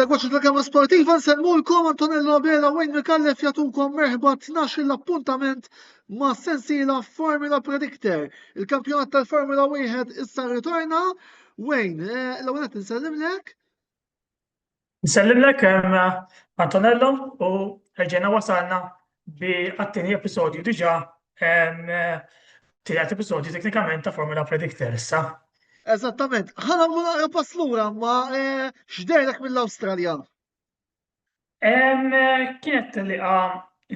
Segwaċi programma sportiva nsemmulkom Antonello Abela u Wayne Mikallef jatukom merħba 12 l-appuntament ma' sensila Formula Predictor. Il-kampjonat tal-Formula 1 issa ritorna. Wayne, eh, l-għunet nsellimlek. Nsellimlek Antonello u reġgħna wasalna bi għat-tieni episodju diġà tielet episodju teknikament ta' Formula Predictor issa. Eżattament. Ħana mu naqra pass lura ma eh, x'dejlek mill-Awstralja? Kienet li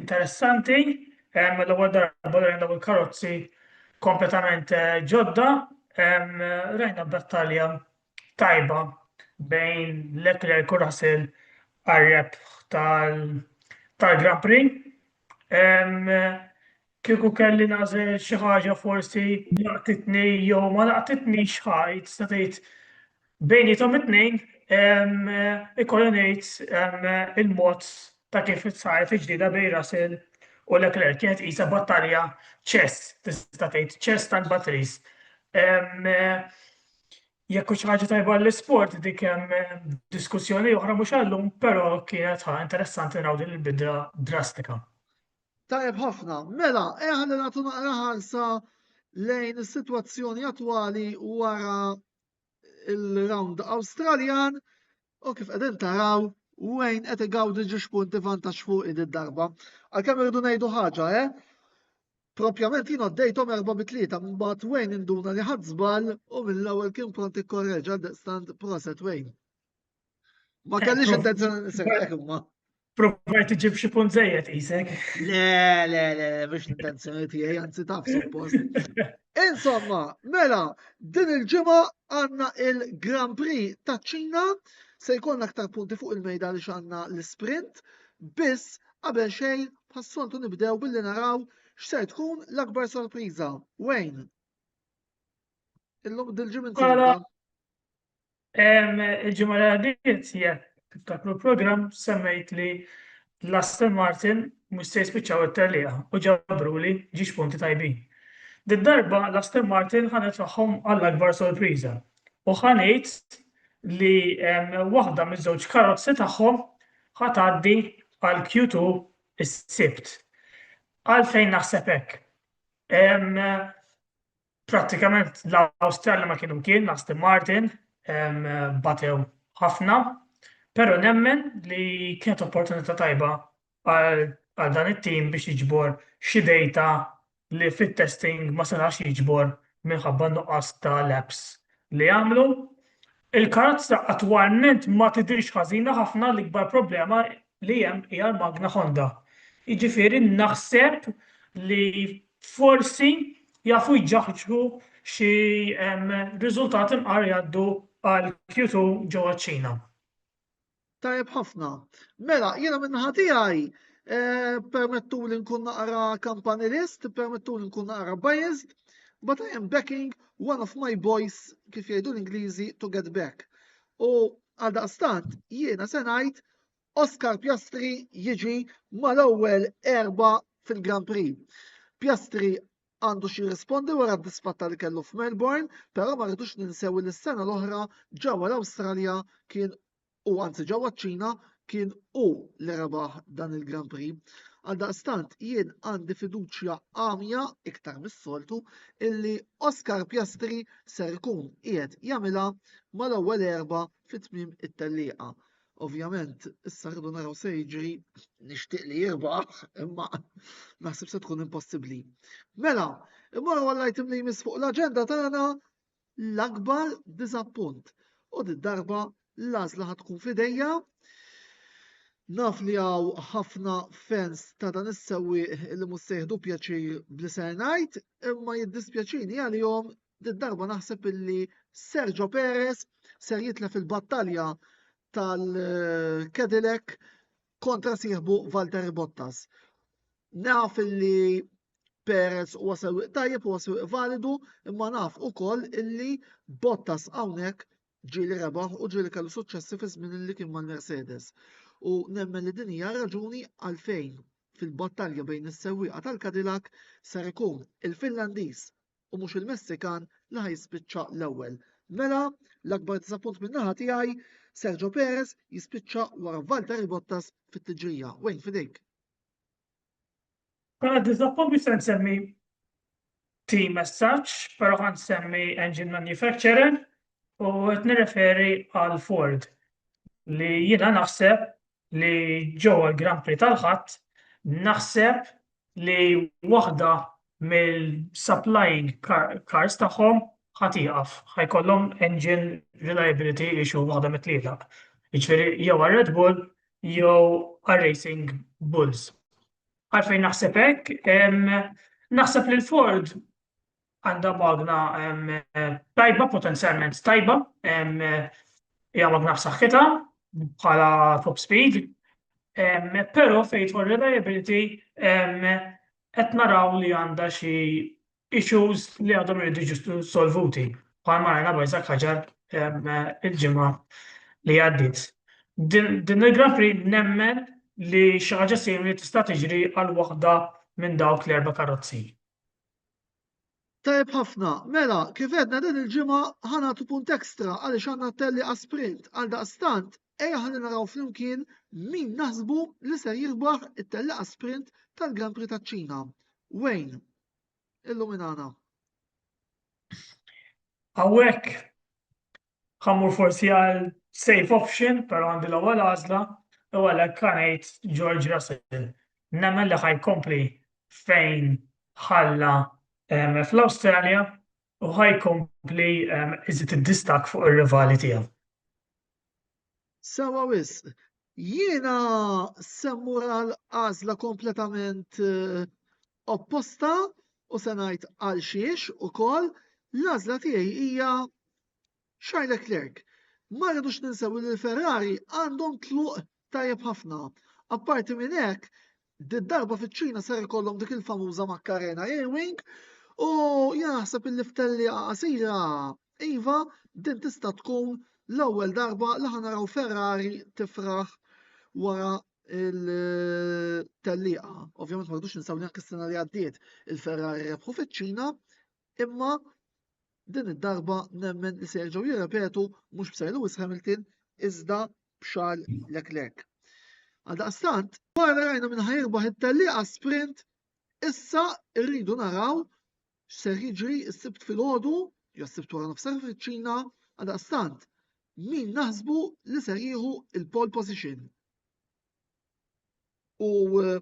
interessanti, l-ewwel darba li dawn il-karozzi kompletament eh, ġodda, rajna battalja tajba bejn Leclerc u Russell għal-rebħ tal-Grand Prix. Kieku kelli nażel xi ħaġa forsi laqtitni jew ma laqtitni xħajt, sa tgħid bejnietom it-tnejn ikolli ngħid il-mod ta' kif sar fiġdida bejn Russell u Leclerc kienet isa battalja ċess, tista' tgħid ċess tal-batteries. jekk hux ħaġa tajba l-isport dik hemm eh, diskussjoni oħra mhux għallum, però kienet ħa interessanti naraw din il-bidla drastika. Tajb ħafna, mela, eħan li nagħtu naqra ħarsa lejn is-sitwazzjoni attwali wara il-round Awstraljan U kif qegħdin taraw, Wayne qed igawdi ġiex punti vantaġġ fuq id darba. Għalkemm irridu ngħidu ħaġa, eh? Propjament jien għoddejthom erba' bi tlieta, mbagħad Wayne induna li ħadd żball u mill-ewwel kien pront ikkorreġa daqstant proset Wayne. Ma kellix intenzjoni nisek imma. Provajt iġib xi punt żejjed qisek. Le, le, le, biex l-intenzjoni tiegħi anzi taf suppost. Insomma, mela, din il-ġimgħa għandna il-Grand Prix ta' Ċina se jkollna aktar punti fuq il-mejda li xanna l-sprint biss qabel xejn passoltu nibdew billi naraw x'ser tkun l-akbar sorpriża. Wayne. Illum dil-ġimgħa Il-ġimgħa li għaddiet jekk tiftakru l-programm semmejt li l-Aston Martin mhux se jispiċċaw it-tellieqa u ġabruli ġiex punti tajbin. Did-darba l-Aston Martin ħanet ruħhom għall-akbar sorpriża u ħa ngħid li waħda miż-żewġ karozzi tagħhom ħa tgħaddi għal Q2 is-Sibt. Għalfejn naħseb hekk? Prattikament l-Awstralja ma kienu kien Aston Martin batew ħafna, però nemmen li kienet opportunità tajba għal dan it-tim biex jiġbor xi dejta li fit-testing ma setax jiġbor minħabba n-nuqqas ta' laps li għamlu. Il-karozza attwalment ma tidhirx ħażina ħafna, l-ikbar problema li hemm hija l-magna Honda. Jiġifieri naħseb li forsi jafu jġaħġu xi riżultati mqar jgħaddu għal Q2 ġewwa ċ-Ċina. Tajjeb ħafna. Mela, jiena minn naħa tiegħi eh, permettu li nkun naqra campanilist, permettu li nkun naqra biased, but I am backing one of my boys kif jgħidu l-Ingliżi to get back. U għal daqstant jiena se ngħid Oscar Piastri jiġi mal-ewwel erba fil-Grand Prix. Piastri għandu xi rispondi wara d-disfatta li kellu f'Melbourne, però ma rridux ninsew li s-sena l-oħra ġewwa l-Awstralja kien u anzi ġewwa ċ-Ċina kien u li rebaħ dan il-Grand Prix. Għaldaqstant jien għandi fiduċja għamja iktar mis-soltu illi Oscar Piastri ser ikun qiegħed jagħmilha mal-ewwel erba fit-tmiem it-tellieqa. Ovvjament, issa rridu naraw se jiġri nixtieq li jirbaħ, imma naħseb se tkun impossibbli. Mela, imma għall-item li jmiss fuq l-aġenda tagħna l-akbar diżappunt. U di darba l-għażla ħad tkun fidejja. Naf li għaw ħafna fans ta' dan is-sewwieq li mhux se jieħdu pjaċir bli ser ngħid, imma jiddispjaċini għalihom darba naħseb illi Sergio Perez ser jitlef il-battalja tal-Cadillac kontra sieħbu Valtteri Bottas. Naf illi Perez huwa sewwieq tajjeb huwa sewwieq validu, imma naf ukoll illi Bottas hawnhekk ġieli rebaħ u ġieli kellu suċċessi fi żmien li kien mal-Mercedes. U nemmen li din hija raġuni għalfejn fil-battalja bejn is-sewwieqa tal-Cadillac ser ikun il-Finlandiż u mhux il-Messikan li ħa jispiċċa l-ewwel. Mela, l-akbar diżappunt minn naħa tiegħi, Sergio Perez jispiċċa wara Valtteri Bottas fit-tiġrija. Wejn fidejk. Mela diżappunt biex se nsemmi team as such, però ħan semmi engine manufacturer u qed nirreferi għal Ford li jiena naħseb li ġewwa l-Grand Prix tal-Ħadd naħseb li waħda mill-supplying cars tagħhom ħadd ieqaf, ħajkollhom engine reliability issue waħda mit-tlieta. Jiġifieri jew għar-Red Bull jew għar-Racing Bulls. Għalfejn naħseb hekk, naħseb li l-Ford għandha magna tajba, potenzjalment tajba, hija magna f'saħħitha bħala top speed, però fejn jidħol reliability qed naraw li għandha xi issues li għadhom iridu jiġu solvuti bħal ma rajna bajżak ħaġar il-ġimgħa li għaddiet. Din il-Grand Prix nemmen li xi ħaġa simili tista' tiġri għal waħda minn dawk l-erba' karozzi. Tajb ħafna, mela, kif edna din il-ġimgħa ħanatu punt ekstra għaliex għandna telli għasprint għal daqstant ejja ħalli naraw flimkien min naħsbu li ser jirbaħ it-telli għasprint tal-Grand Prix taċ-Ċina. Wayne, illuminana. Awek, ħa mmur forsi għal safe option, però għandi l-ewwel għażla, u għalhekk ħa ngħid George Russell. Nemmen li ħaj kompli fejn ħalla fl-Awstralja u ħaj kompli iżid id-distak fuq ir-rivali tiegħu. Sewwa wisq. Jiena se mmur għal għażla kompletament eh, opposta u se ngħid għal xiex ukoll l-għażla tiegħi hija Charles Leclerc. Ma rridux ninsew li l-Ferrari għandhom tluq tajjeb ħafna. Apparti minn hekk, Din darba fiċ-Ċina ser ikollhom dik il-famuża Macarena Ewing u jien naħseb illi f'tellieqa qasira iva din tista' tkun l-ewwel darba li ħanaraw Ferrari tifraħ wara il-tellieqa. Ovvjament ma rridux ninsaw li anke s-sena li għaddiet il-Ferrari rebħu fiċ-Ċina imma Din id-darba nemmen li se jerġgħu jirrepetu mhux b'Sir Lewis Hamilton iżda b'Charles Leclerc. Għaldaqstant, wara rajna minn ħajrbaħ it-tellieqa sprint, issa rridu naraw x'ser jiġri s-sibt filgħodu jew s-sibt wara nofsar fiċ-Ċina għaldaqstant min naħsbu li ser jieħu il-pole position. U eh,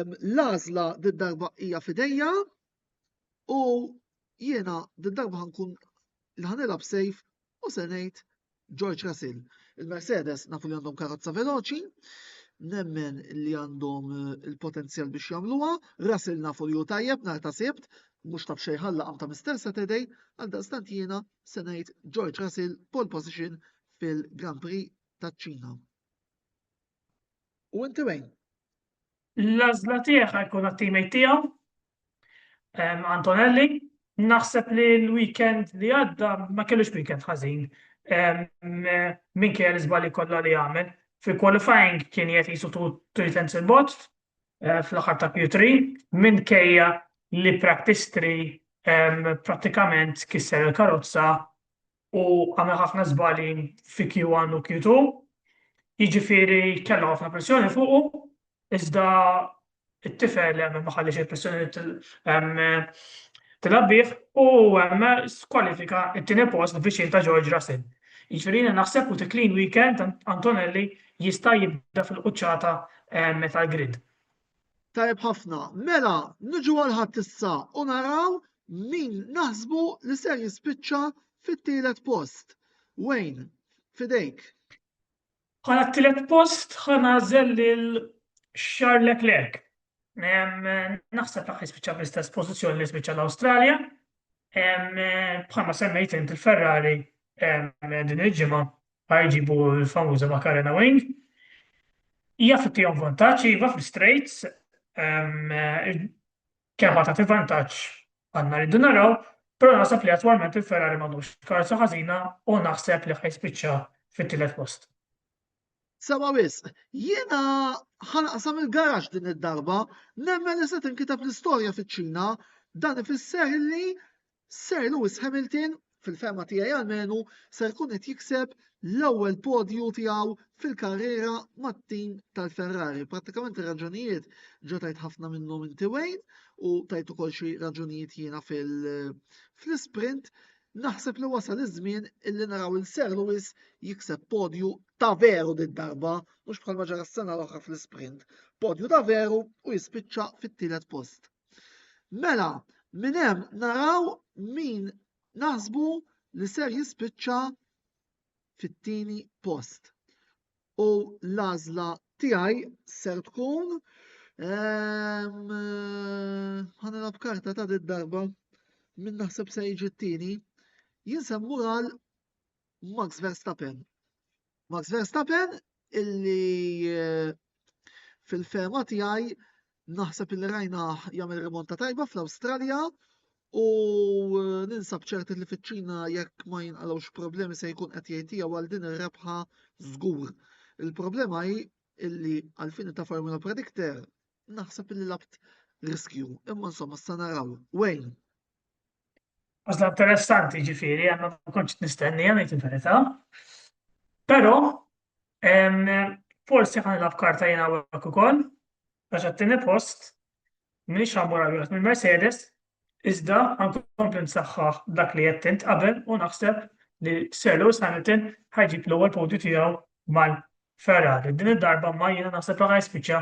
l-għażla d-darba hija fidejja U jiena din darba ħankun li ħanilab sejf u se ngħid George Russell. Il-Mercedes nafu li għandhom karozza veloċi, nemmen li għandhom eh, il-potenzjal biex jagħmluha, Russell nafu li hu tajjeb nhar ta' sibt, mhux taf xejn ħalla ta' Mr. Saturday, għal daqstant jiena se ngħid George Russell pole position fil-Grand Prix taċ-Ċina. U inti wejn? L-għażla tiegħi ħa jkun għat-teammate tiegħu, Antonelli. Naħseb li l-weekend li għadda ma kellux weekend ħażin minkejja l-iżbalji kollha li għamel. Fil-qualifying kien qed jisu three tenths il-bot eh, fl-aħħar ta' Q3 minkejja li practice 3 prattikament kisser il-karozza u għamel ħafna żbali fi Q1 u Q2, jiġifieri kellha ħafna pressjoni fuqu, iżda t-tifel ma ħalliex il-pressjoni tilgħab bih u skwalifika t-tieni post viċin ta' George Russell. Jiġifieri jiena naħseb with a clean weekend Antonelli jista' jibda fil-quċċata tal-grid. Tajjeb ħafna. Mela, niġu għal ħadd issa u naraw min naħsbu li ser jispiċċa fit-tielet post. Wayne, fidejk. Bħala t-tielet post ħanażel lil Charles Leclerc. Naħseb dak li spiċċa bl-istess pożizzjoni li spiċċa l-Awstralja. Bħalma semmejt int il-Ferrari din il-ġimgħa ma jġibu l-famuża Macarena Wing. Hija fittihom vantaġġ iva fl-straights, kemm ta' vantaġġ għandna rridu naraw, però naħseb li attwalment il-Ferrari m'għandux karza ħażina u naħseb li ħajspiċċa fit-tielet post. Sewa wisq, jiena ħanaqsam il-garax din id-darba, nemmen li se tinkiteb l-istorja fiċ-Ċina, dan ifisser li Sir Lewis Hamilton, fil-fehma tiegħi almenu, ser ikun qed jikseb l-ewwel podju tiegħu fil-karriera mat-tim tal-Ferrari. Prattikament ir-raġunijiet ġo tajt ħafna minnhom inti Wayne u tajt ukoll xi raġunijiet jiena fil-sprint. Naħseb li wasal iż-żmien illi naraw il Sir Lewis jikseb podju ta' veru din darba mhux bħalma ġara s-sena l-oħra fl-sprint. Podju ta' veru u jispiċċa fit-tielet post. Mela, minn hemm naraw min naħsbu li ser jispiċċa fit-tieni post. U l-għażla tiegħi ser tkun ehm, ħanilab karta ta' dit darba minn naħseb se jiġi t-tieni. Jien se mmur għal Max Verstappen. Max Verstappen illi eh, fil-fema tiegħi naħseb illi rajna jagħmel rimonta tajba fl-Awstralja u eh, ninsab ċerti li fiċ-Ċina jekk ma jinqalgħux problemi se jkun qed jgħid għal din ir-rebħa żgur. Il-problema hi illi għalfini ta' Formula Predictor naħseb illi labt riskju, imma insomma sa naraw. Wayne. Għazla interessanti ġifiri, għanna konċ nistennija nejt il-verita. Pero, forsi għan il karta jena għak u koll, għax għattini post, minix għamur għal minn Mercedes, iżda għan kompli nsaxħaħ dak li jattint qabel u naħseb li Sir Lewis Hamilton ħajġib l-ewwel podju tiegħu mal Ferrari, din id-darba imma jiena naħseb li ħa jispiċċa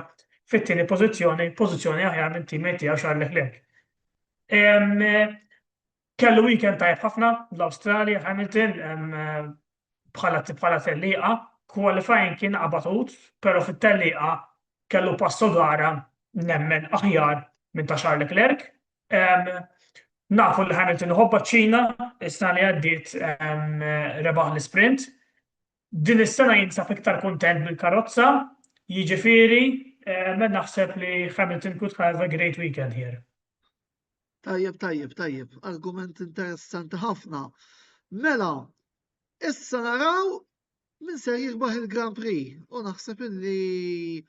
fit-tieni pożizzjoni, pożizzjoni aħjar minn teammate tiegħu Charles Leclerc. Kellu weekend tajjeb ħafna l-Awstralja Hamilton bħala bħala tellieqa, qualifying kien qabatut, però fit-tellieqa kellu passo gara nemmen aħjar minn ta' Charles Leclerc. Nafu li Hamilton ħobba ċ-Ċina, is-sena li għaddiet rebaħ l-sprint, Din is-sena jinsab iktar kuntent bil-karozza, jiġifieri naħseb li Hamilton could have a great weekend here. Tajjeb, tajjeb, tajjeb. Argument interessanti ħafna. Mela, issa naraw min ser jirbaħ il-Grand Prix u naħseb illi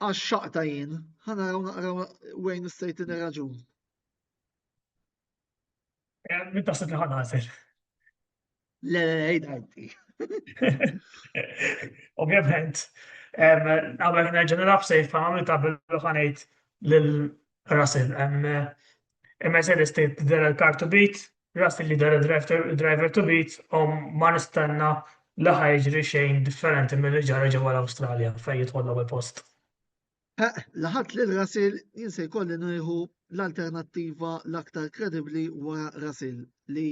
għax xaqta jien, ħanaraw naqraw Wayne State in raġun. Eh, Min taħseb li ħan għazel? Le, le, ejda għajti. Ovvjament, għabel nerġan nafsej f'għamil ta' billu ħanajt l-Russell. Mercedes tejt dera l-kar to beat, Russell li dera driver to beat, u ma nistenna li ħajġri xejn differenti mill-li ġara ġewwa l-Awstralja fejn jitħollu post. Eh, laħat li l-rasil jien se jkolli nieħu l-alternattiva l-aktar kredibbli wara rasil li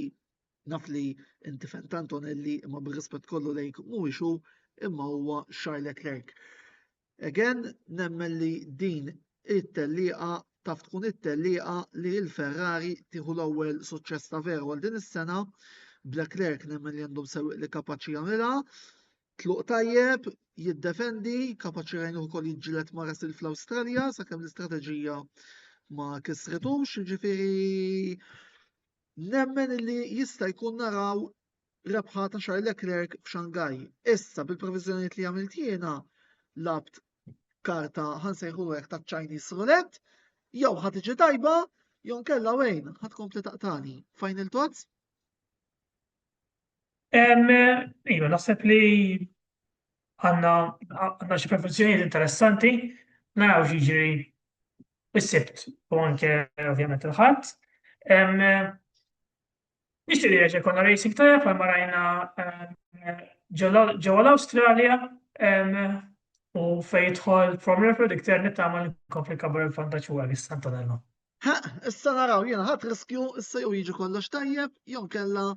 naf li inti fent Antonelli imma bir-rispett kollu lejk mhuwiex hu imma huwa Charles Leclerc. Again, nemmen li din it-tellieqa taf tkun it-tellieqa li l-Ferrari tieħu l-ewwel suċċess ta' veru għal din is-sena. Black Lerk nemmen li għandhom sewwieq li kapaċi jagħmilha Tluq tajjeb, jiddefendi, kapaċi jgħinu wkoll jiġġieled ma' Russell fl-Awstralja sakemm l-istrateġija ma kisretux, jiġifieri nemmen li jista' jkun naraw rebħa ta' Charles Leclerc f'Xangaj. Issa bil-previżjonijiet li għamilt jiena labt karta ħansejħu hekk ta' Chinese roulette, jew ħad iġi tajba, jew kella wejn ħad kompli taqtani. Final thoughts? Iva, naħseb li għanna għanna xi professjonijiet interessanti, naraw ġiġri s-sibt u anke ovvjament il-ħadd. Nixtieq li reġa' konna racing tajjeb bħal marajna ġewwa l-Awstralja u fejn jidħol Formula Fred iktar nittama li nkompli kabbar il-vantaġġ u għal Santanello. Ha, issa naraw jiena ħadd riskju issa jew jiġi kollox tajjeb jew kella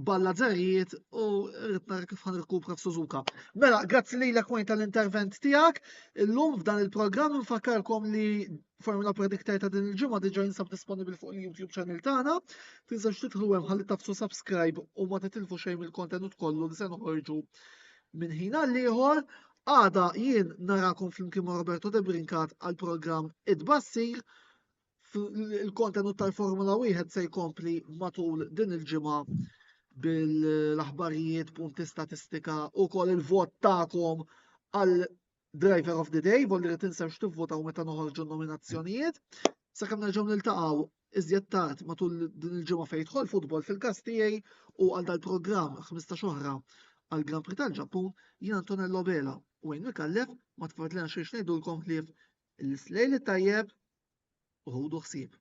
balla zerrijiet u rrid nara kif ħan rkupra f'Suzuka. Mela, grazzi li l tal-intervent tiegħek. Illum f'dan il-programm nfakkarkom li Formula Predictor ta' din il-ġimgħa diġà jinsab disponibbli fuq il-YouTube channel tagħna. Tinsax titħlu hemm ħalli tafsu subscribe u ma titilfu xejn mill-kontenut kollu li se noħorġu minn ħin għal ieħor Għada jien narakom flimkien ma' Roberto De Brincat għal programm Id-Bassir. Il-kontenut tal-Formula 1 se jkompli matul din il-ġimgħa bil-aħbarijiet, punti statistika u kol il-vot ta'kom għal Driver of the Day, volli li tinsewx tivvotaw meta noħorġu nominazzjonijiet. Sakemm nerġgħu niltaqgħu iżjed tard matul din il-ġimgħa fejn jidħol futbol fil-każ tiegħi u għal dal-programm 15 oħra għal Grand Prix tal-Ġappun jien Antonello Bela u Wayne Mikallef ma tfadlina xejn ngħidulkom ħlief l-islejl tajjeb u ħudu ħsieb.